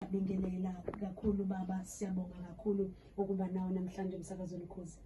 Bingelela kakhulu baba, siyabonga kakhulu ukuba nawe namhlanje emsakazweni Khosi.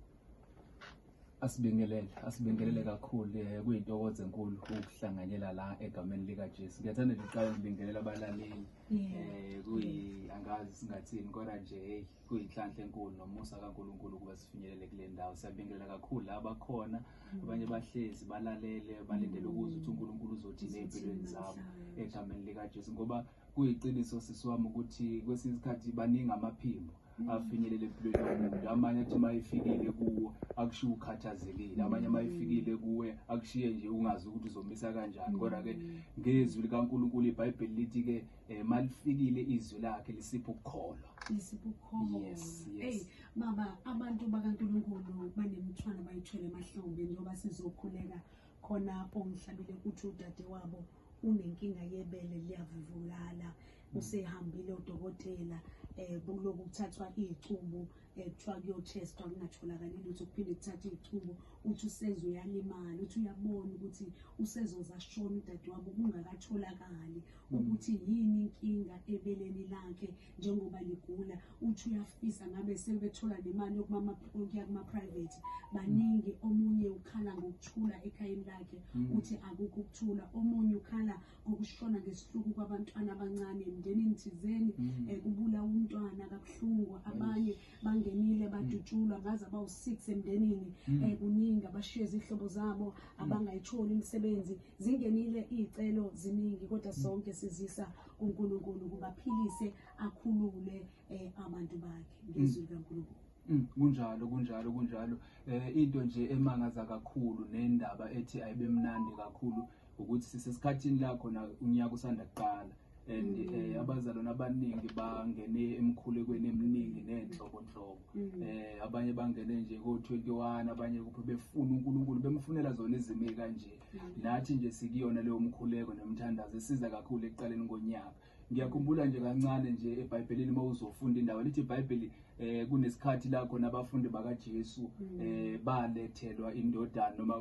Asibingelele, asibingelele kakhulu eh, kuyintokozo enkulu ukuhlanganyela la egameni lika Jesu. Ngiyathanda nje uqala ukubingelela abalaleli. Eh kuyi angazi singathini kodwa nje hey kuyinhlanhla enkulu nomusa kaNkuluNkulu ukuba sifinyelele kule ndawo. Siyabingelela kakhulu la bakhona mm. abanye bahlezi balalele balindele ukuzwa ukuthi uNkuluNkulu uzothini empilweni zabo egameni lika Jesu ngoba Kuyiqiniso sisi wami ukuthi kwesinye isikhathi baningi amaphimbo afinyelele empilweni yomuntu amanye athi uma efikile kuwo akushiye ukhathazekile amanye uma efikile kuwe akushiye nje ungazi ukuthi uzomisa kanjani kodwa-ke ngezwi likankulunkulu ibhayibheli lithi-ke um eh, malifikile izwi lakhe lisipha ukukholwa lisipha ukukholwa yes, yes. Hey, mama abantu bakankulunkulu banemithwalo bayithwele emahlombe njengoba sizokhuleka khona ongihlabile ukuthi udade wabo unenkinga yebele liyavuvulala usehambile odokotela um kuloku kuthathwa iy'cubu um eh, kuthiwa kuyochestwa kungatholakali lutho kuphinde kuthathe iy'cubu uthi useze uyalimala uthi uyabona ukuthi usezoza shona udade wabo kungakatholakali hmm. ukuthi yini inkinga ebeleni lakhe njengoba ligula uthi uyafisa ngabe sebethola nemali yokuya kuma-private baningi omunye ukhala ngokuthula ekhayeni lakhe mm. uthi akukho ukuthula omunye ukhala ngokushona ngesihluku kwabantwana abancane emndenini thizeni um mm. eh, kubula umntwana kabuhlungu abanye bangenile mm. badutshulwa ngaze abawu-six emndenini um eh, kuningi abashiye izihlobo zabo abangayitholi imisebenzi zingenile iy'celo ziningi kodwa sonke sizisa uNkulunkulu kubaphilise akhulule eh, abantu bakhe ngezwi mm. likaNkulunkulu mm, kunjalo kunjalo kunjalo eh into nje emangaza kakhulu nendaba ethi ayibemnandi kakhulu ukuthi sisesikhathini la khona unyaka usanda kuqala and mm. eh abazalwana abaningi bangene emkhulekweni eminingi nenhlobo nhlobo mm. eh abanye bangene nje ko 21 abanye kuphi befuna uNkulunkulu bemfunela zona izimo kanje nathi nje sikuyona leyo mkhuleko nomthandazo esiza kakhulu ekuqaleni konyaka ngiyakhumbula nje kancane nje ebhayibhelini uma uzofunda indawo lithi ibhayibheli eh kunesikhathi la khona abafundi bakaJesu mm. eh balethelwa indodana noma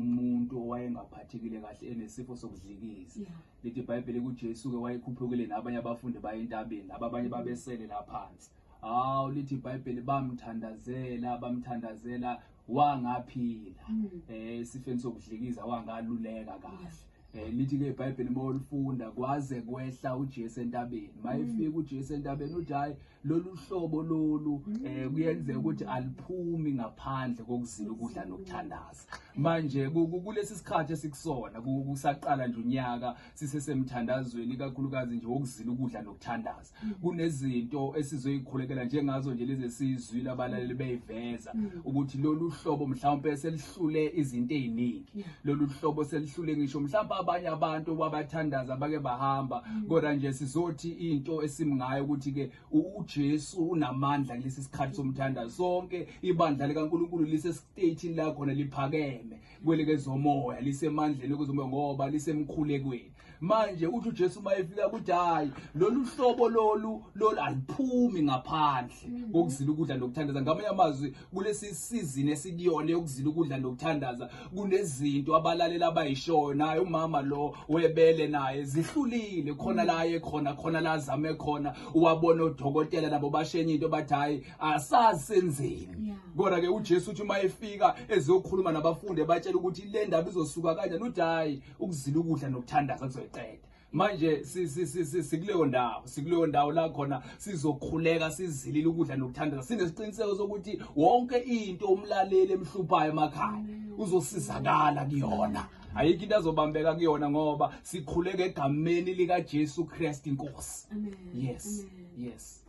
umuntu owayengaphathekile kahle enesifo sokudlikiza lithi ibhayibheli kuJesu ke wayekhuphukile nabanye abafundi baye entabeni laba abanye mm. babesele la phansi hawu lithi ibhayibheli bamthandazela bamthandazela wangaphila mm. eh sifeni sokudlikiza wangaluleka kahle eh lithi ke iBhayibheli mawulifunda kwaze kwehla uJesu entabeni mayifika mm. uJesu entabeni uthi hayi lolu hlobo lolu mm. eh kuyenzeka ukuthi aliphumi ngaphandle kokuzila ukudla nokuthandaza manje kulesi sikhathi esikusona kusaqala nje unyaka sisesemthandazweni ikakhulukazi nje wokuzila ukudla nokuthandaza mm. kunezinto esizoyikhulekela njengazo nje lezi esizwile abalaleli mm. beyiveza mm. ukuthi lolu hlobo mhlawumpe selihlule izinto eziningi lolu hlobo selihlule ngisho mhlawumbe abanye abantu babathandaza bake bahamba kodwa nje sizothi into esimngayo ukuthi ke uJesu unamandla kulesi sikhathi somthandazo sonke ibandla likaNkuluNkulu lisestate la khona liphakeme kwelekezomoya lisemandleni kwezomoya ngoba lisemkhulekweni manje uthi uJesu uma efika ukuthi hayi lolu hlobo lolu lolu aliphumi ngaphandle mhm. kokuzila ukudla nokuthandaza ngamanye amazwi kulesi sizini esikuyona yokuzila ukudla nokuthandaza kunezinto abalalela abayishoyo naye umama lo webele naye zihlulile khona la aye khona khona la azame khona uwabona odokotela nabo bashenye into bathi hayi asazi senzeni yeah. kodwa ke uJesu uthi uma efika ezokhuluma nabafundi ebatshela ukuthi le ndaba izosuka kanjani uthi hayi ukuzila ukudla nokuthandaza kuzoyiqeda manje sikuleyo ndawo sikuleyo ndawo la khona sizokhuleka sizilile ukudla nokuthandaza sinesiqiniseko sokuthi wonke into umlaleli emhluphayo emakhaya mm. uzosizakala kuyona ayikho into azobambeka kuyona ngoba sikhuleka egameni likaJesu Kristu inkosi yes yes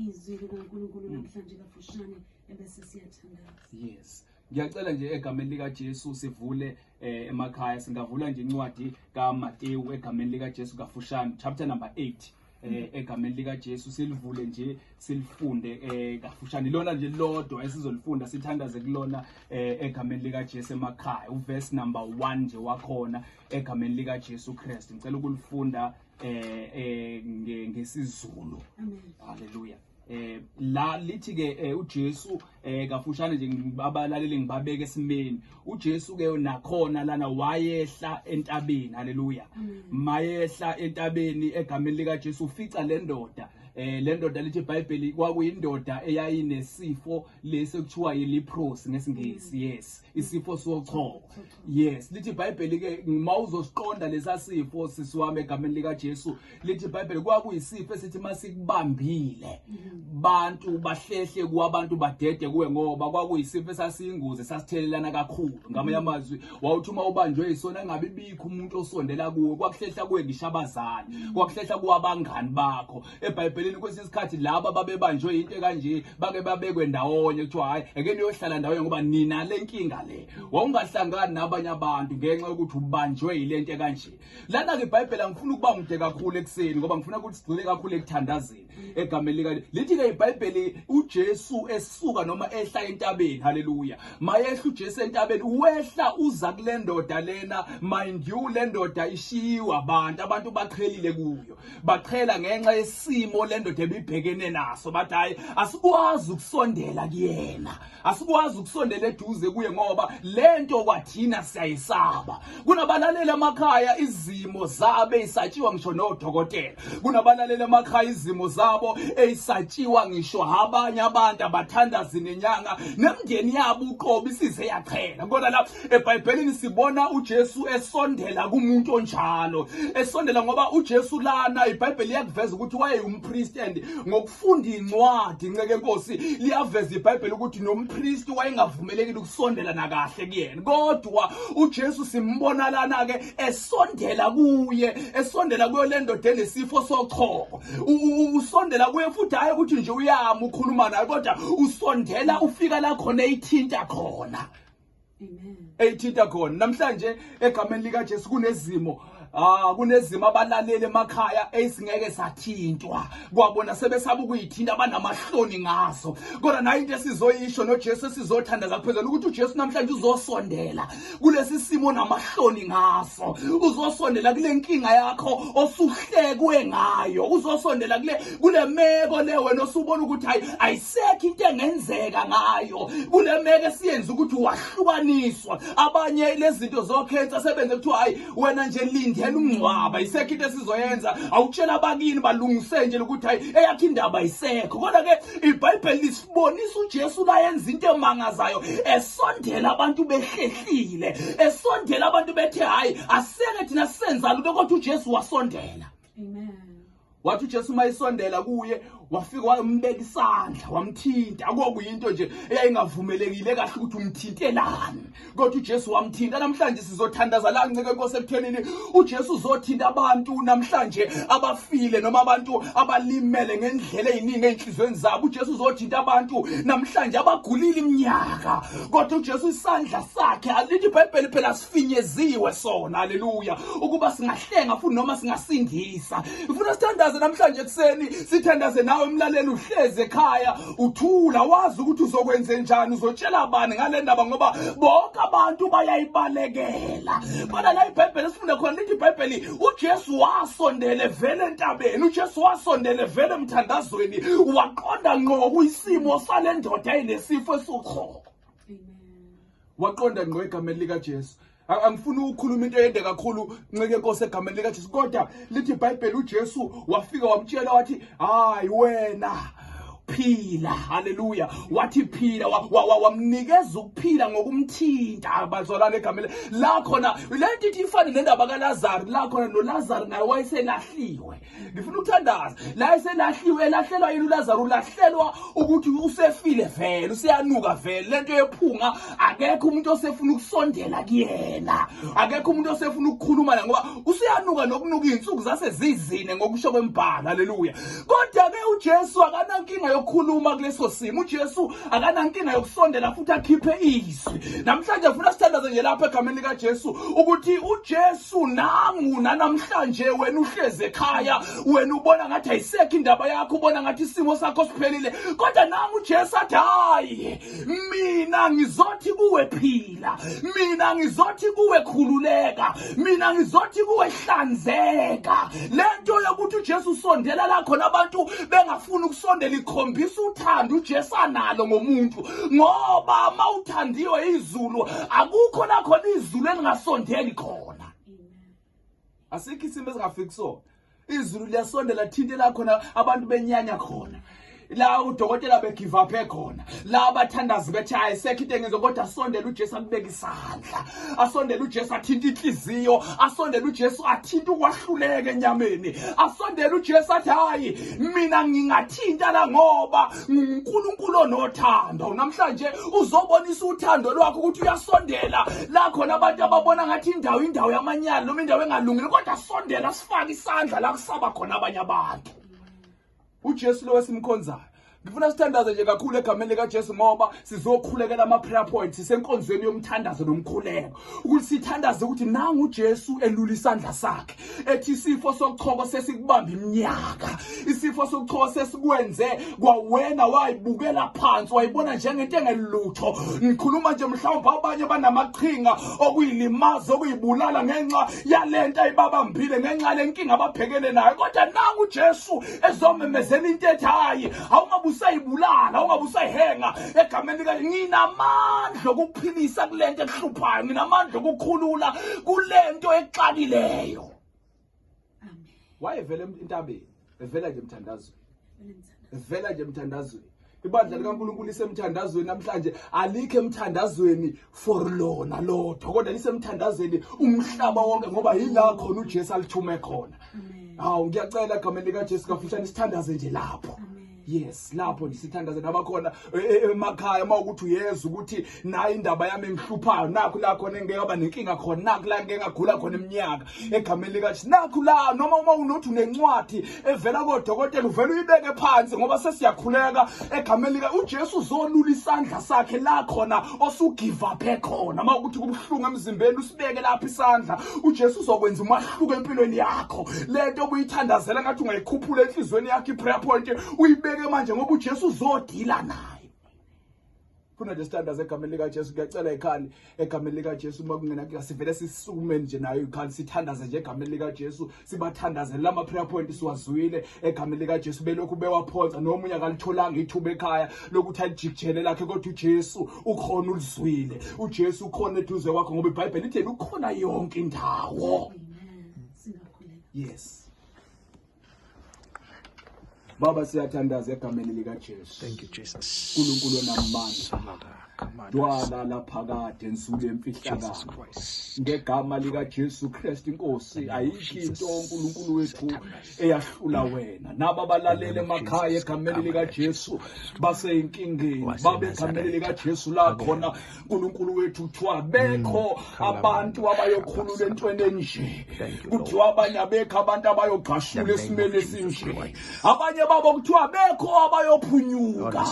izwi likankulunkulu mm. namhlanje kafushane ebese siyathandaza yes ngiyacela nje egameni likajesu sivule eh, emakhaya singavula nje incwadi kamatewu egameni likajesu kafushane chapter number 8 eh egameni lika Jesu silivule nje silifunde eh kafushane lona nje lodwa esizolifunda sithandaze kulona eh egameni lika Jesu emakhaya uverse number 1 nje wakhona egameni lika Jesu Christ ngicela ukulifunda eh eh ngesizulu haleluya eh la lithi ke eh, uJesu eh kafushane nje abalaleli ngibabeke esimeni uJesu ke nakhona lana wayehla entabeni haleluya mayehla entabeni egameni lika Jesu ufica lendoda eh le ndoda lithi iBhayibheli kwakuyindoda eyayinesifo lesi ekuthiwa yileprosy ngesingisi yes isifo sochoko yes lithi ibhayibheli ke uma uzosiqonda lesasifo sisi wami egameni likaJesu lithi ibhayibheli kwakuyisifo esithi masikubambile mm-hmm. bantu bahlehle kwabantu badede kuwe ngoba kwakuyisifo esasiyingozi sasithelelana kakhulu mm-hmm. ngamanye amazwi wawuthi uma ubanjwe isona engabe ibikho umuntu osondela kuwe kwakuhlehla kuwe ngisho abazali mm-hmm. kwakuhlehla kuwabangani bakho ebhayibhelini kwesinye isikhathi laba babebanjwe into kanje bake babekwe ndawonye kuthiwa hhayi eke niyohlala ndawonye ngoba nina le nkinga le wawungahlangani nabanye abantu ngenxa yokuthi ubanjwe yile nto kanje lana-ke ibhayibheli angifuni ukuba mude kakhulu ekuseni ngoba ngifuna ukuthi sigcine kakhulu ekuthandazeni egameni lika lithi-ke ibhayibheli ujesu esuka noma ehla entabeni haleluya mayehla ujesu entabeni wehla uza kule ndoda lena mind you le ndoda ishiyiwe abantu abantu baqhelile kuyo baqhela ngenxa yesimo le ndoda ebibhekene naso bathi hhayi asikwazi ukusondela kuyena asikwazi ukusondela eduze kuye ngoba le nto kwathina siyayisaba kunabalaleli emakhaya izimo zabe isatshiwa ngisho nodokotela kunabalaleli emakhaya izimo zabo eyisatshiwa ngisho abanye abantu abathandazi nenyanga nemndeni yabo uqobo isize yaqhela kodwa la ebhayibhelini sibona ujesu esondela kumuntu onjalo esondela ngoba ujesu lana ibhayibheli liyakuveza ukuthi wayeyumpristi and ngokufunda incwadi nceke nkosi liyaveza ibhayibheli ukuthi nompristi wayengavumelekile ukusondela nakahle kuyena kodwa ujesu simbona lana-ke esondela kuye esondela kuyo le ndoda enesifo sochoko usondela kuye futhi hhayi ukuthi nje uyama ukhuluma naye kodwa usondela ufika la khona eyithinta khona eyithinta khona namhlanje egameni likaJesu kunezimo Ah kunezimo abalaleli emakhaya esingeke sathintwa kwabona sebesaba ukuyithinta abanamahloni ngaso kodwa nayo into esizoyisho noJesu esizothandaza ngaphezulu ukuthi uJesu namhlanje uzosondela kulesi simo namahloni ngaso uzosondela kule nkinga yakho osuhlekwe ngayo uzosondela kule kule meko le wena osubona ukuthi hayi ayisekho into engenzeka ngayo kule meko esiyenze ukuthi wahlukaniswa abanye lezinto zokhensa sebenze kuthiwa hayi wena nje lindela umngcwaba isekho into esizoyenza awutshela abakini balungise nje ukuthi hayi eyakhe indaba isekho kodwa ke ibhayibheli lisibonisa ujesu layenza into emangazayo esondela abantu behlehlile esondela abantu bethe hayi aseke thina senza lutho kodwa ujesu wasondela amen wathi uJesu uma isondela kuye wafika wambeka isandla wamthinta akokuyinto nje eyayingavumelekile kahle ukuthi umthintelani kodwa uJesu wamthinta namhlanje sizothandaza la ncike inkosi ekuthenini uJesu uzothinta abantu namhlanje abafile noma abantu abalimele ngendlela eziningi ezinhlizweni zabo uJesu uzothinta abantu namhlanje abagulile iminyaka kodwa uJesu isandla sakhe alithi iBhayibheli phela esifinyeziwe sona haleluya ukuba singahlenga futhi noma singasindisa ngifuna sithandaze namhlanje ekuseni sithandaze nawe mlaleli uhleze ekhaya uthula wazi ukuthi uzokwenze njani uzotshela abani ngale ndaba ngoba bonke abantu bayayibalekela kodwa la ibhayibheli esifunde khona lithi ibhayibheli ujesu wasondele vele entabeni ujesu wasondele vele emthandazweni waqonda nqo kuyisimo sale ndoda enesifo esiwukhoko waqonda ngqo egameni likaJesu angifuni ukukhuluma into eyende kakhulu ncike nkosi egameni likaJesu kodwa lithi iBhayibheli uJesu wafika wamtshela wathi hayi wena phila haleluya wathi phila wamnikeza ukuphila ngokumthinta bazalwane egamele la khona le nto ithi ifane nendaba kalazaro la khona nolazaro naye wayeselahliwe ngifuna ukuthandaza la eselahliwe elahlelwa yini uLazaru ulahlelwa ukuthi usefile vele useyanuka vele lento yephunga akekho umuntu osefuna ukusondela kuyena akekho umuntu osefuna ukukhuluma la ngoba useyanuka nokunuka izinsuku zase zizine ngokusho kwembhala haleluya kodwa ke uJesu akanankinga yokukhuluma kuleso simo uJesu akanankinga yokusondela futhi akhiphe izwi namhlanje ngifuna sithandaze nje lapha egameni likaJesu ukuthi uJesu sunangu nanamhlanje wena uhlezi ekhaya wena ubona ngathi ayisekho indaba yakho ubona ngathi isimo sakho siphelile kodwa nangu uJesu athi hayi mina ngizothi kuwe phila mina ngizothi kuwe khululeka mina ngizothi kuwe hlanzeka lento yokuthi uJesu usondela la khona abantu bengafuni ukusondela ikhombisa uthando uJesu analo ngomuntu ngoba mawuthandiwe izulu akukho la khona izulu elingasondeli khona asikho isimo esingafiki kusona izulu liyasondela thinte la khona abantu benyanya khona la udokotela begive up ekhona la abathandazi bethi hayi sekho into engenzo kodwa asondele uJesu akubeka isandla asondele uJesu athinta inhliziyo asondele uJesu athinta ukwahluleka enyameni asondele uJesu athi hayi mina ngingathinta la ngoba nguNkulunkulu onothando namhlanje uzobonisa uthando lwakho ukuthi uyasondela la khona abantu ababona ngathi indawo indawo yamanyala noma indawo engalungile kodwa sondela sifake isandla la kusaba khona abanye abantu uJesu lo wesimkhonzayo ngifuna sithandaze nje kakhulu egameni likaJesu ngoba sizokhulekela ama-prayer points senkonzweni yomthandazo nomkhuleko ukuthi sithandaze ukuthi nangu uJesu elula isandla sakhe ethi isifo sokuchoko sesikubamba iminyaka isifo sokuchoko sesikwenze kwawena wayibukela phansi wayibona njengento engelutho ngikhuluma nje mhlawumbe abanye banamaqhinga okuyilimaza okuyibulala ngenxa yalento ayibabambile ngenxa lenkinga ababhekene nayo kodwa nangu uJesu ezomemezela into ethi hayi awungabe usayibulala awungabe usayihenga egameni likaNkulunkulu nginamandla okuphilisa kulento ekuhluphayo nginamandla okukhulula kulento exakileyo wayevela entabeni evela nje emthandazweni evela nje emthandazweni ibandla likaNkuluNkulu isemthandazweni namhlanje alikho emthandazweni for lona lodwa kodwa lisemthandazeni umhlaba wonke ngoba yila khona uJesu alithume khona hawu ngiyacela egameni likaJesu kafishane isithandaze nje lapho Amen. yes lapho ndisithandaze nabakhona e, e, emakhaya uma ukuthi uyeza ukuthi nayo indaba yami engihluphayo nakho la khona engingekaba nenkinga khona nakho la ngingengagula khona iminyaka egameni likajesu nakhu la noma uma unothi unencwadi evela kodokotela uvele uyibeke phansi ngoba sesiyakhuleka egameni lika ujesu uzolula isandla sakhe la khona osugivaphe khona uma ukuthi kubuhlungu emzimbeni usibeke lapha isandla ujesu uzokwenza umahluko empilweni yakho le nto obuyithandazela ngathi ungayikhuphula enhliziyweni yakho i-prayer point uyibeke manje ngoba ujesu uzodila nayo phuna nje standards egameni likaJesu ngiyacela ikhali egameni likaJesu uma kungena kula sivele sisukumeni nje nayo ikhali sithandaze nje egameni likaJesu sibathandaze lama prayer point siwazwile egameni likaJesu belokhu bewaphonsa noma unya kalitholanga ithuba ekhaya lokuthi alijikjele lakhe kodwa uJesu ukhona ulizwile uJesu ukhona eduze kwakho ngoba iBhayibheli lithi ukhona yonke indawo yes Baba siyathandaza egameni lika Jesu. Thank you Jesus. Nkulunkulu onamandla. Dwala laphakade ensuku yemfihlakalo. Ngegama lika Jesu Christ inkosi ayikho into uNkulunkulu wethu eyahlula wena. Naba balalele emakhaya egameni lika Jesu baseynkingeni. Babe egameni lika Jesu la khona nkulunkulu wethu kuthiwa mm, bekho abantu abayokhulula entweni enje kuthiwa abanye abekho abantu abayogqashula esimeni esinje abanye babo kuthiwa bekho abayophunyuka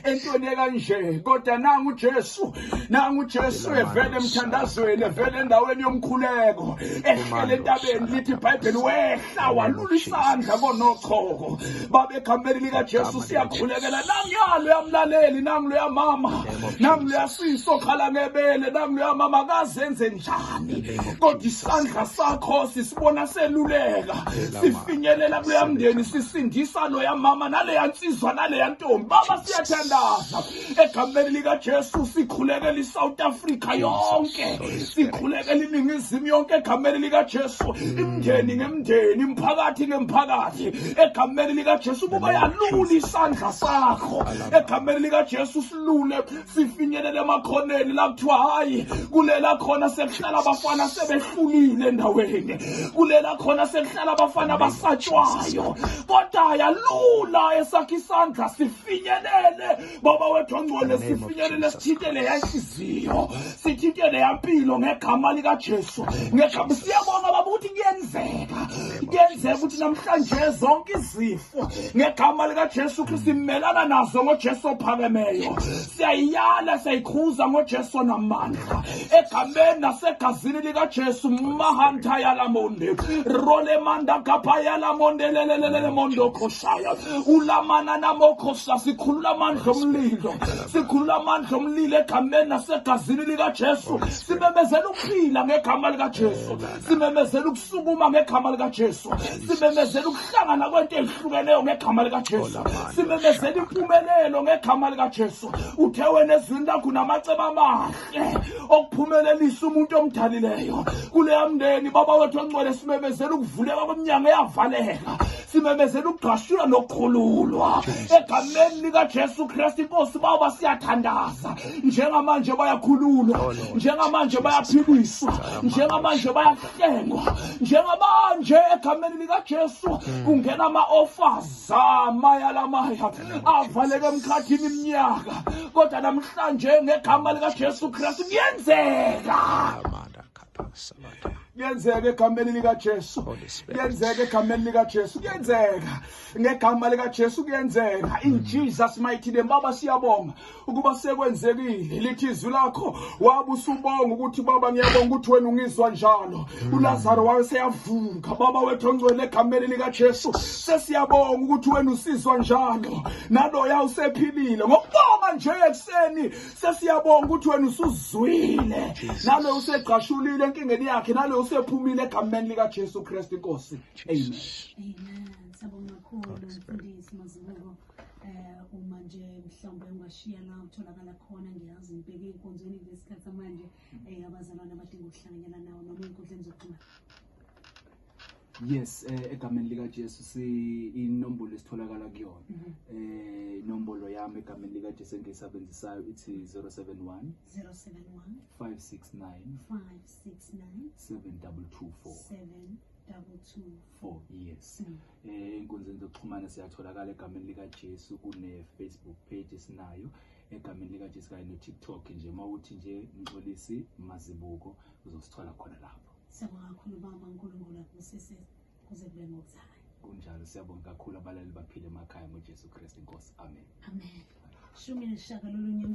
entweni ekanje kodwa nangu ujesu nangu ujesu evele emthandazweni evele endaweni yomkhuleko ehlele entabeni lithi ibhayibheli wehle hlawalula isandla konochoko baba egameni likajesu siyakhulekela nangiyalo yamlaleli nangu loyamama nangu loyasisi okhala ngebele nangu loyamama kazenze njani kodwa isandla sakho sisibona seluleka sifinyelela kuloyamndeni sisindisa loyamama naleya nsizwa naleya ntombi baba siyathandaza egameni likajesu sikhulekela isouth africa yonke sikhulekela iningizimu yonke egameni likajesu mm. imndeni ngemndeni imphakathi ngemphakathi egameni likajesu ukuba yalula isandla sakho egameni likajesu silule sifinyelele emakhoneni la kuthiwa hhayi kulela khona sekuhlala abafana sebehlulile endaweni kulela khona sekuhlala abafana basatshwayo kodwa yalula esakhe isandla sifinyelele baba wethu ongcwele sifinyelele sithintele yanhliziyo sithintele yampilo ngegama likajesu ngegama siyabona baba ukuthi kuyenzeka kuyenzeka ukuthi namhlanje zonke izifo ngegama likajesu kristu simelana nazo ngojesu ophakemeyo siyayiyala siyayikhuza ngojesu namandla egameni nasegazini likajesu mahanta yalamonde rolemanda gapa yalamonde lelelelelemondokoshaya ulamana namokosha sikhulula amandla omlilo sikhulula amandla omlilo egameni nasegazini likajesu simemezela ukuphila ngegama likajesu simemezela ukusukuma ngegama likajesu simemezela ukuhlangana kwento ezihlukeneyo ngegama likajesu simemezela impumelelo ngegama likajesu uthe wena ezwini lakho namaceba amahle okuphumelelisa umuntu omdalileyo kuleya mndeni baba wethu ongcwele simemezela ukuvuleka komnyango eyavaleka simemezela ukugashulwa nokukhululwa egameni likajesu kristu inkosi baba siyathandaza njengamanje bayakhululwa oh, njengamanje bayaphiliswa njengamanje bayahlengwa njengamanje egameni likajesu hmm. kungena ama-offers zamayalamaya avaleke emkhathini iminyaka kodwa namhlanje ngegama likajesu kristu kuyenzeka kuyenzeka egameni likajesu kuyenzeka egameni likajesu kuyenzeka ngegama likajesu kuyenzeka in jesus mighty name baba siyabonga ukuba sekwenzekile lithi izwi lakho wabe usubonga ukuthi baba ngiyabonga ukuthi wena ungizwa njalo mm. ulazaro waye seyavuka baba wethu ongcwele egameni likajesu sesiyabonga ukuthi wena usizwa njalo naloya usephilile ngokubonga nje ekuseni sesiyabonga ukuthi wena usuzwile nalo usegqashulile enkingeni yakhe nalo usephumile egameni likajesu kristu inkosi amen amen sabonga kakhulu mfundisi mazibuko eh uma nje mhlawumbe ungashiya la utholakala khona ngiyazi ngibheke inkonzweni ngesikhathi manje eh abazalwana abadinga ukuhlanganyela nawo noma inkundleni zokuxhumana yes eh, egameni lika Jesu si inombolo esitholakala kuyona mhm. eh inombolo yami egameni lika Jesu engiyisebenzisayo ithi 071 071 569 569 7224 7224 four years mm. eh, enkunzini zokuxhumana siyatholakala egameni likajesu kune-facebook page esinayo egameni likajesu kanye no-tiktok nje uma uthi nje mxolisi mazibuko uzosithola khona lapho siyabonga kakhulu baba unkulunkulu akubusise kuze kube ngokuzayo kunjalo siyabonga kakhulu abalali baphile emakhaya ngojesu kristu inkosi amen amen shumi nesishagalolunye